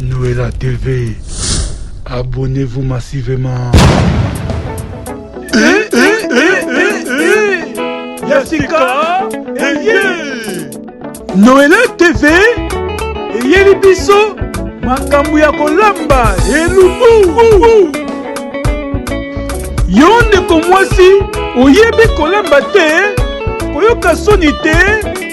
Noëlla TV. Abonnez-vous massivement. Eh, eh, eh, Yasika eye Noëlla TV eyeli biso makambo ya kolamba elubu yo ndeko mwasi oyebi kolamba te koyoka soni te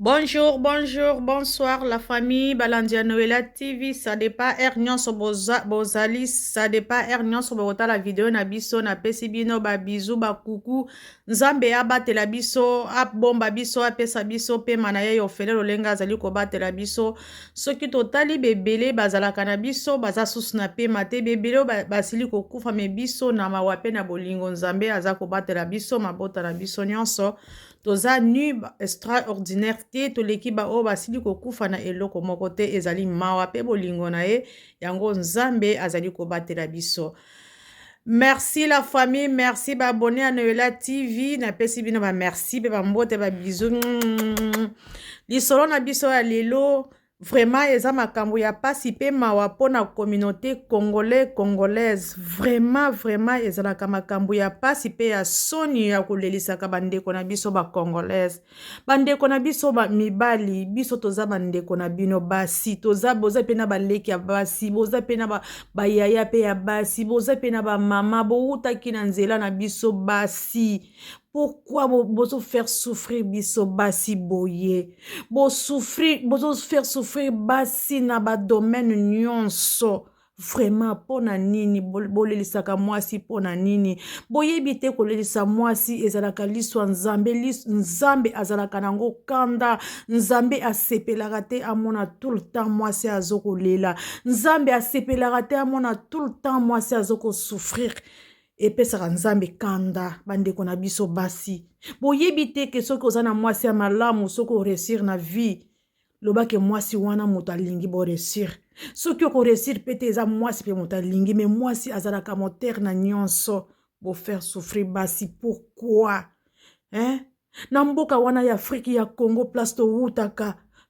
Bonjour, bonjour, bonsoir la famille Balandia Noëlla TV. Ça dépend heure nyonso bozali, ça dépend heure nyonso la vidéo na biso na pesi bino ba bisous ba coucou. Nzambe abatela biso, abomba biso, apesa biso pe mana ye ofele lolenga azali ko batela biso. Soki totali bebele bazalaka na biso, baza susu na pema te bebele basili kokufa me biso na mawa pe na bolingo Nzambe aza kobatela biso mabota na biso nyonso. toza nu extraordinaire te toleki baoyo basili kokufa na eloko moko te ezali mawa mpe bolingo na ye yango nzambe azali kobatela biso merci la famille merci baabone ya noela tv napesi bino bamerci mpe bambote babizu lisolo na biso ya lelo Vraiment eza makambo ya pasi pe mawa pona communauté congolais congolaise vraiment vraiment ezalaka makambo ya pasi pe ya soni ya kolelisaka bandeko na biso ba congolaise bandeko na biso ba mibali biso toza bandeko na bino basi toza boza pe na baleki ya basi boza pe na ba, bayaya pe ya basi boza pe na bamama bowutaki na nzela na biso basi pourquoi bozo faire souffrir biso basi boye bosouffrir bozo faire souffrir basi na badomaine nyonso vraiment mpo na nini bolelisaka mwasi mpo na nini boyebi te kolelisa mwasi ezalaka liswa nzambe lis, nzambe azalaka na yango kanda nzambe asepelaka te amona tout le temps mwasi azo kolela nzambe asepelaka te amona tout le temps mwasi azo kosouffrir epesaka nzambe kanda bandeko na biso basi boyebi te ke soki oza na mwasi ya malamu soki oresir na vie loba ke mwasi wana moto alingi boresir soki okoresir mpe te eza mwasi mpe moto alingi me mwasi azalaka motere na nyonso bofaire souffrir basi pourkui eh? na mboka wana ya afriki ya congo place towutaka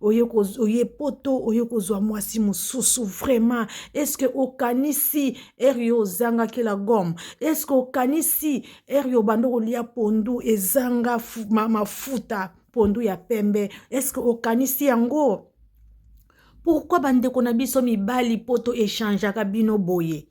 oye poto oye kozwa mwasi mosusu vraiment estce okanisi ere yo ozangaki la gomme estce okanisi ere yo obanda kolia pondu ezanga mafuta pondu ya pembe estce okanisi yango pourkui bandeko na biso mibali poto echangeaka bino boye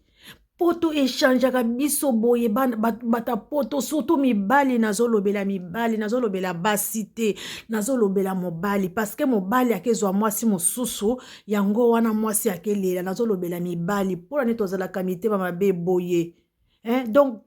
poto echangeaka biso boye bata poto surtout mibali nazolobela mibali nazolobela basi te nazolobela mobali parceke mobali akezwa mwasi mosusu yango wana mwasi akelela nazolobela mibali mpona neti tozalaka mitema mabe boye eh, donc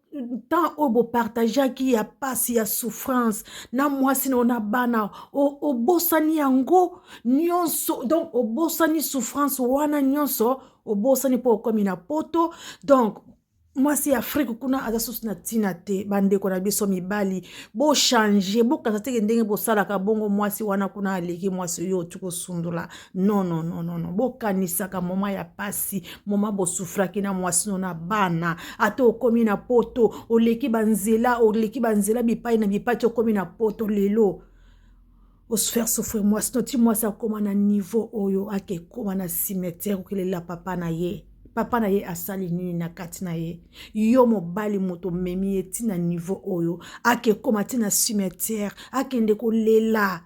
temps oyo bopartageaki ya mpasi ya souffrance na mwasi na yo na bana obosani yango nyonso donc obosani souffrance wana nyonso obosani mpo okomi na poto donc mwasi ya afrike kuna aza susu na ntina te bandeko na biso mibali bochange bokanisa teke ndenge bosalaka bongo mwasi wana kuna aleki mwasi oyo oti kosundola nonononono bokanisaka moma ya pasi moma bosufraki na mwasi no na bana ata okomi na poto oleki banzela oleki banzela bipai na bipai ti okomi na poto lelo faire souffrir mwasi no ti mwasi akoma na niveau oyo ake koma na cimetière kokelela papa na ye papa na ye asali nini na kati na ye yo mobali moto omemi ye ti na niveau oyo ake koma ti na cimetière akende kolela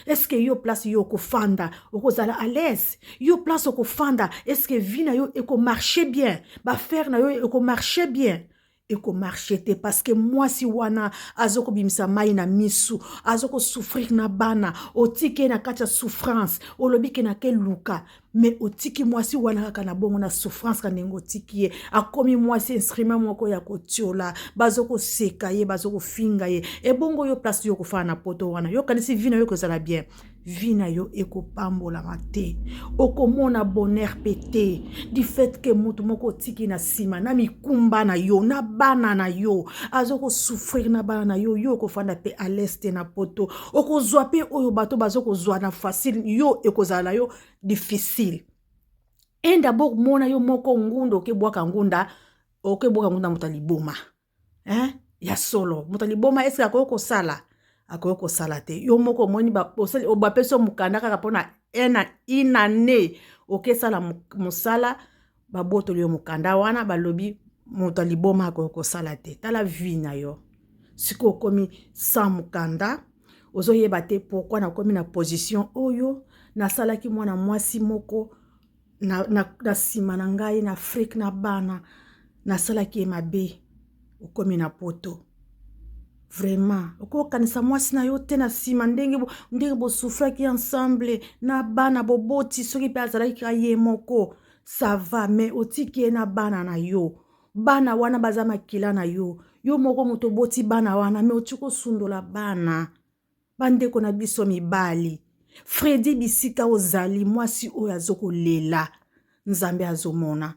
eske yo place yo okofanda okozala à l'aise yo place okofanda eske vie na yo ekomarche bien bafere na yo ekomarche bien eko marche te parce que mwasi wana azokobimisa mai na misu azokosouffrir na bana otiki ye na kati ya souffrance olobi ke nake luka me otiki mwasi wana kaka na bongo na souffrance ka ndenge otiki ye akomi mwasi instrument moko ya kotiola bazokoseka ye bazokofinga ye ebongo yo place yo kofana na poto wana yo kanisi vi na yo ekozala bien vie na yo ekopambolama te okomona bonheur mpe te du fait ke moto moko otiki na nsima na mikumba na yo na bana na yo aza kosouffrir na bana na yo yo okofanda mpe à l'est na poto okozwa mpe oyo bato baza kozwa na facile yo ekozala na yo difficile enda boko mona yo moko ngunda okebwaka ngunda okebwaka ngunda moto ya liboma hein ya solo moto ya liboma eske akoki kosala akoki kosala te yo moko omoni bapesi yo mokanda kaka mpona une année okesala mosala babotoli yo mokanda wana balobi moto ya liboma akoki kosala te tala vie na yo sikoyo okomi sans mokanda ozoyeba te pourkui nakomi na position oyo nasalaki mwana mwasi moko na, na, na nsima na ngai na afrike na bana nasalaki ye mabe okomi na poto vraiment okokanisa mwasi na yo te na nsima ndenge ndenge bosufraki ensemble na bana boboti soki mpe azalaki kaka ye moko sava mais otiki ye na bana na yo bana wana baza makila na yo yo moko moto oboti bana wana mais otiki osundola bana Bandeko na biso mibali Freddy bisika ozali mwasi oyo azokolela Nzambe azomona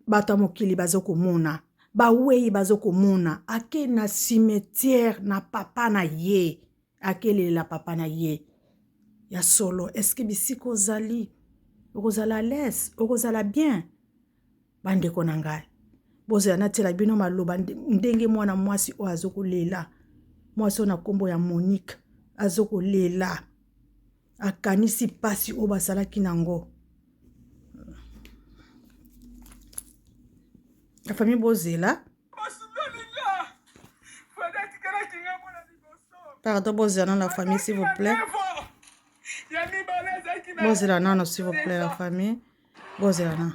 bato ya mokili bazokomona bawei bazokomona ake na cimetière na papa na ye akelela papa na ye ya solo eske bisika ozali okozala les okozala bien Bandeko na ngai, bozela natiela bino maloba ndenge mwana mwasi oyo azokolela mwasi oyo na nkombo ya monique azokolela akanisi mpasi oyo basalaki na yango la famille bozela pardon bozela nano la famille s'il vous plaît bozela nano s'il vous plaît la famille bozela nano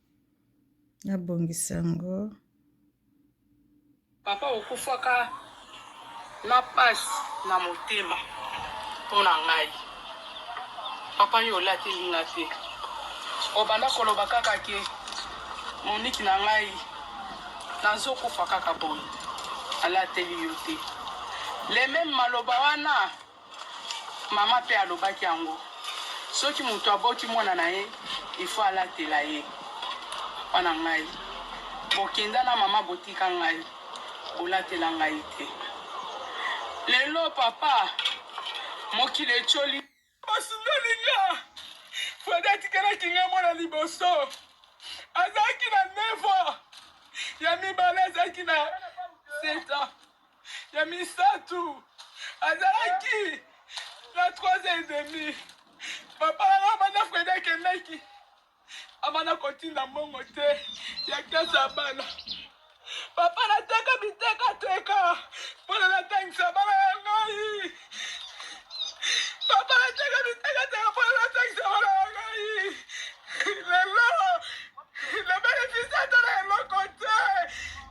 na bongisa yango papa okufaka na pasi na motema mpo na ngai papa yo olateli nga te obanda koloba kaka ke moniki na ngai nazokufa kaka boye alateli yo te le meme maloba wana Mama mpe alobaki yango. Soki moto aboti mwana na ye, il faut alatela ye. Papa na ngai, bokenda na mama botika ngai, bolatela ngai te. Lelo papa, mokili etioli. Basundoli nga. Fredi atikelaki nga mwana liboso. Azalaki na 9 ans. Ya mibale azalaki na 7 ans. ya misato azalaki na 3 et demi papa nanga banda fredi akendaki abanda kotinda mbongo te ya klase ya bana papa nateka bitekateka mpona natangisa bana ya ngai papa nateka bitekateka mpona natangisa bana ya ngai lelo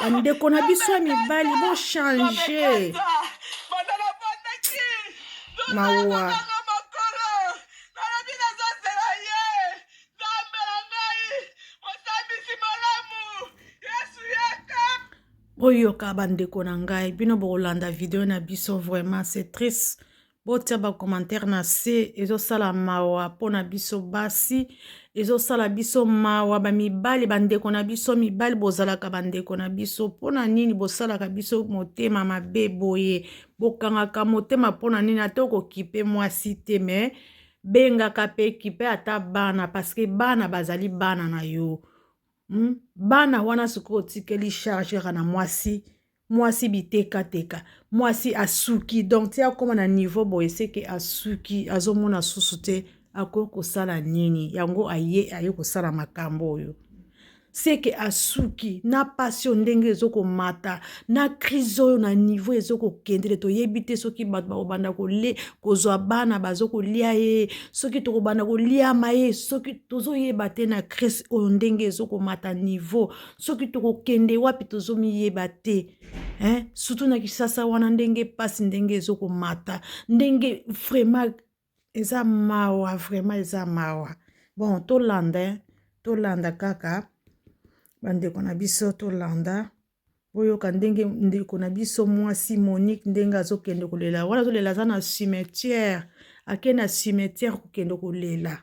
bandeko na biso ya mibali bochange mawa boyoka bandeko na ngai bino bokolanda video na biso vraiment c'est triste botia ba commentaire na se ezosala mawa mpo na biso basi ezosala biso mawa bamibali bandeko na biso mibali bozalaka bandeko na biso mpo na nini bosalaka biso motema mabe boye bokangaka motema mpo na nini ata okokipe mwasi te me bengaka mpe kipe ata bana paske bana bazali bana na yo hmm? bana wana sikoyo otikeli chargera na mwasi mwasi bitekateka mwasi asuki donc ti akóma na niveau boye seke asuki azomona susu te akoki kosala nini yango aye aye kosala makambo oyo seke asuki na pasi oyo ndenge ezokomata na crise oyo na niveau ezokokendele toyebi te soki bato bakobanda kole kozwa bana bazokolia ye soki tokobanda koliama ye soki tozoyeba te na crise oyo ndenge ezokomata niveau soki tokokende wapi tozomiyeba te hein? surtout na kisasa wana ndenge mpasi ndenge ezokomata ndenge vraiment eza mawa vraiment eza mawa bon tolanda hein? tolanda kaka bandeko na biso tolanda boyoka ndenge ndeko na biso mwasi monique ndenge azokende kolela wana azolela aza na cimetière ake na cimetière kokende kolela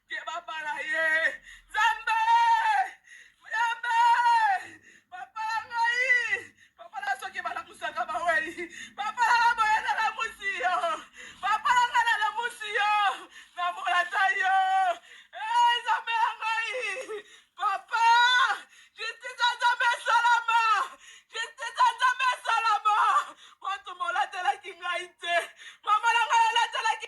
Ke babala ye nzambe yambe papa na ngai papa na soki balamusaka bawei papa na ngai boye nalamusi yo papa na ngai nalamusi yo namolata yo Eh, nzambe na ngai papa justice ya nzambe esalama justice ya nzambe esalama bato molatelaki ngai te mama na ngai alatelaki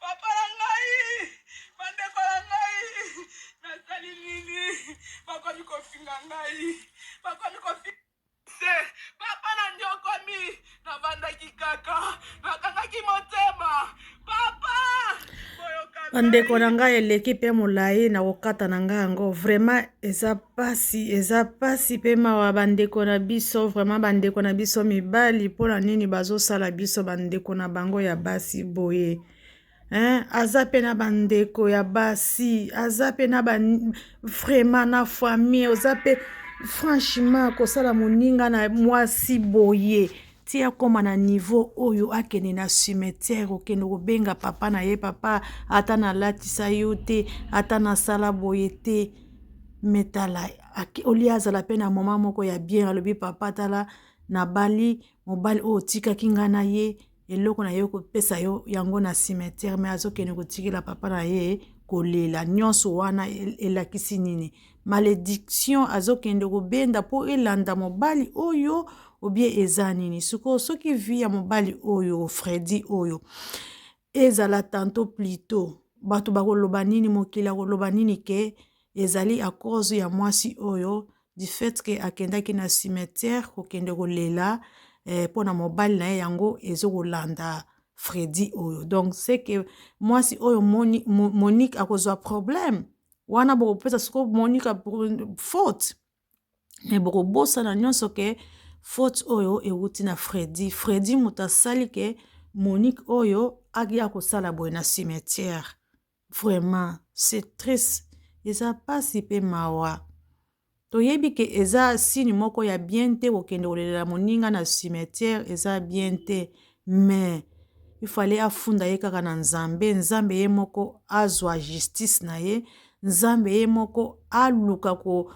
Papa na ngai, bandeko na ngai, nasali nini? Bakomi kofinga ngai, bakomi kofinga se papa na nyokomi, navandaki kaka, nakangaki motema papa bandeko na ngai eleki mpe molai na kokata na ngai yango vraiment eza pasi eza pasi pe mawa bandeko na biso vraiment bandeko na biso mibali mpona nini bazosala biso bandeko na bango ya basi boye hein? aza pe na bandeko ya basi aza pe na ba vraiment na famille oza pe franchement kosala moninga na mwasi boye ti akóma na niveau oyo akende na cimetière okende kobenga papa na ye papa ata nalatisa yo te ata nasala boye te mais tala au lieu azala pe na moment moko ya bien alobi papa tala nabali mobali oyo otikaki ngai na ye eloko na ye kopesa yo yango na cimetière mais azokende kotikela papa na ye kolela nyonso wana elakisi nini malediction azokende kobenda mpo elanda mobali oyo obie eza nini sikoyo soki vi ya mobali oyo fredi oyo ezala tanto plito bato bakoloba nini mokili akoloba nini ke ezali a cause ya mwasi oyo du fait ke akendaki na cimetière kokende kolela eh, mpo na mobali na ye yango ezokolanda fredi oyo donc seke mwasi oyo monique akozwa problème wana bokopesa siko monique faute me bokobosana nyonso ke faute oyo ewuti na fredi fredi moto asali ke monique oyo aya kosala boye na cimetière vraiment c'est triste eza mpasi mpe mawa toyebi ke eza sini moko ya bien te kokende kolelela moninga na cimetière eza bien te mais il fallait afunda ye kaka na nzambe nzambe ye moko azwa justice na ye nzambe ye moko aluka ko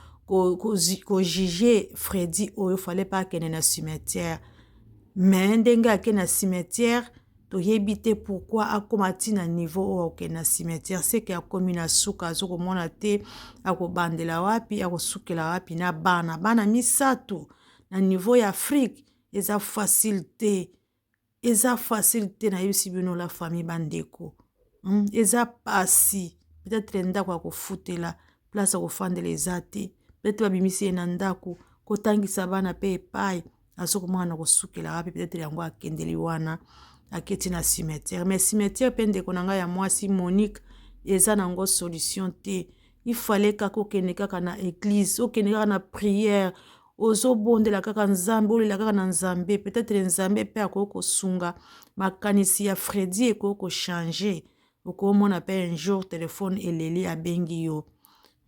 kojuge fredi oyo fallait pas akende na cimetière mais ndenge ake na cimetière toyebi te pourkui akóma ti na niveau oyo akokende na cimetière seke akomi na suka azokomona te akobandela wapi akosukela wapi na bana bana misato na niveau ya afrique eza facile te eza facile te nayebisi bino la famille bandeko hmm? eza pasi peut-être ndako ya kofutela place ya kofandela eza te peut-être babimisi ye na ndako kotangisa bana mpe epai azo komona na kosukela wapi peut-être yango akendeli wana aketi na cimetière mais cimetière mpe ndeko na ngai ya mwasi monique eza na yango solution te il fallait kaka okende kaka na eglise okende kaka na prière ozobondela kaka nzambe olela kaka na nzambe peut-être nzambe mpe akoki kosunga makanisi ya fredi ekoki kochange okomona mpe un jour telefone eleli abengi yo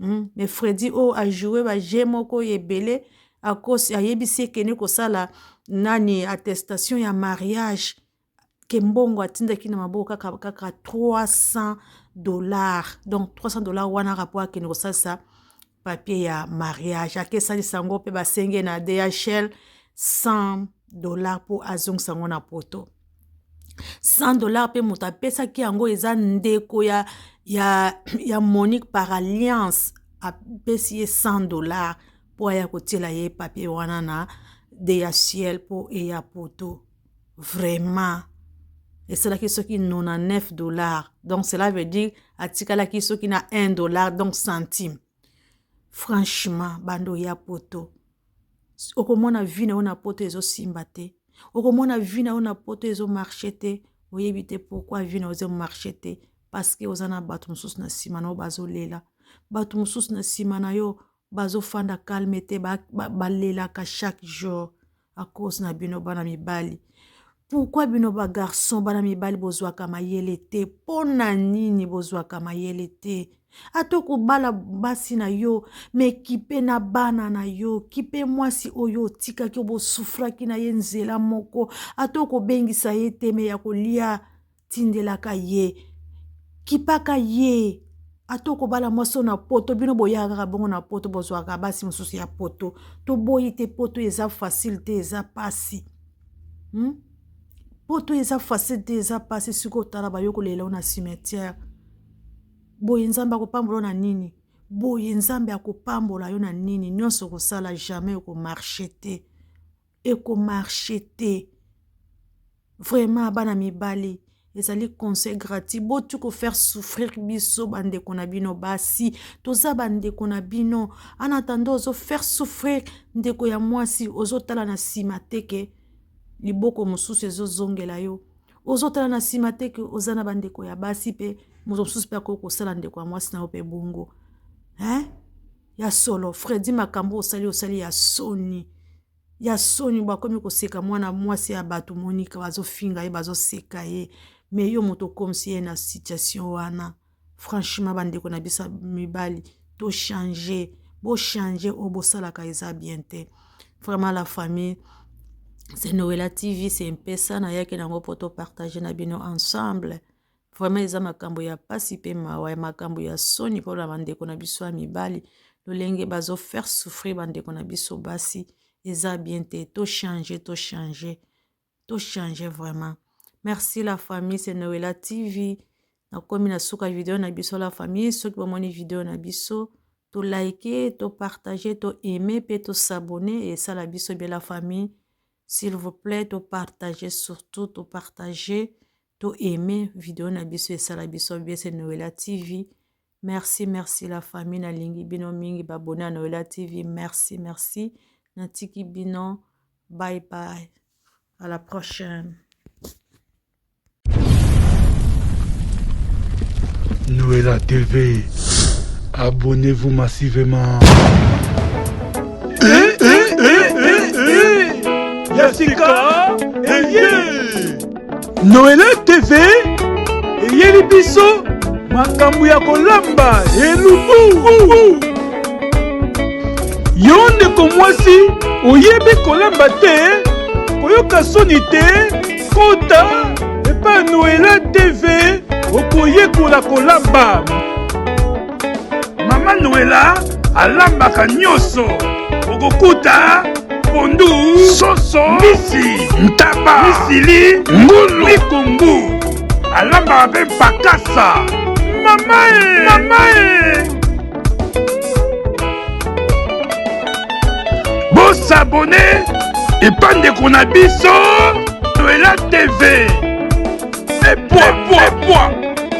hmm? mais fredi oyo oh, ajoue baje moko oyo ebele akosi ayebisi ekende kosala nani attestation ya mariage kembongo atindaki na maboko kaka kaka 300 dollars donc 300 dollars wana kaka mpo akende kosalisa papier ya mariage ake esalisa yango mpe basenge na dhl 100 dollars mpo azongisa yango na poto 100 dollars mpe moto apesaki yango eza ndeko ya, ya, ya monique par alliance apesi ye 100 dollars mpo aya kotiela ye papier wana na dhl mpo eya poto vraiment esalaki soki 99 dollars donc cela veut dire atikalaki soki na 1 dollar donc centime franchement bando ya poto okomona vi na yo na poto ezosimba te okomona vi na yo na poto ezomarche te oyebi te pourkui vi na yo ezomarche te parceke oza na bato mosusu na nsima na yo bazolela bato mosusu na nsima na yo bazo fanda calme te ba lelaka chaque jour à cause na bino bana mibali pourquoi bino ba garçon bana mibali bozwaka mayele te mpo na nini bozwaka mayele te ata okobala basi na yo me kipe na bana na yo kipe mwasi oyo otikaki obosufraki na ye nzela moko ata okobengisa ye te me ya kolia tindelaka ye kipaka ye ata okobala mwasi oyo na poto bino boyaka kaka bongo na poto bozwaka basi mosusu ya poto toboyi te poto eza facile te eza pasi hmm? poto eza facile te eza pasi soki otala bayo kolela yo na cimetière boye nzambe akopambola na nini boye nzambe akopambola yo na nini nyonso okosala jamais okomarche te eko marche te vraiment bana mibali ezali conseil gratis botu ko faire souffrir biso bandeko na bino basi toza bandeko na bino en attendant ozo faire souffrir ndeko ya mwasi ozotala na nsima te ke liboko mosusu ezozongela yo ozotala na nsima te ke oza na bandeko ya basi mpe moto mosusu mpe akoki kosala ndeko ya mwasi na yo mpe bongo hein? Ya solo Freddy makambu osali osali ya soni ya soni bakomi koseka mwana mwasi ya batu Monica bazofinga ye bazoseka ye mais yo moto okomisi ye na situation wana franchement bandeko na biso mibali to changer bo changer oyo bosalaka eza bien te vraiment la famille c'est Noëlla TV c'est mpesa nayaki nango po to partager na bino ensemble Vraiment eza makambo ya pasi pe mawa ya makambo ya soni mpo na bandeko na biso ya mibali lolenge bazo faire souffrir bandeko na biso basi eza bien te to changer to changer to changer vraiment merci la famille c'est Noëlla TV nakomi na suka video na biso la famille soki bomoni video na biso to like to partager to aimer pe to s'abonner esala biso bien la famille s'il vous plaît to partager surtout to partager To aime video na biso esala biso bien c'est Noëlla TV. Merci merci la famille na lingi bino mingi ba abonné à Noëlla TV. Merci merci. Na tiki bino. Bye bye. À la prochaine. Noëlla TV. Abonnez-vous massivement. Eh, eh, eh, eh, eh. Jessica, eh, yeah. Noele TV eyeli biso makambo ya kolamba elubu. Yo ndeko mwasi oyebi kolamba te, koyoka soni te, kota epa Noele TV okoyekola kolamba. Mama Noela alambaka nyoso okokuta pondu soso misi ntaba misili ngulu mikungu alambaka mpe mpakasa mamae mamae bosabone epa ndeko na biso noela tv epwa pwa pwa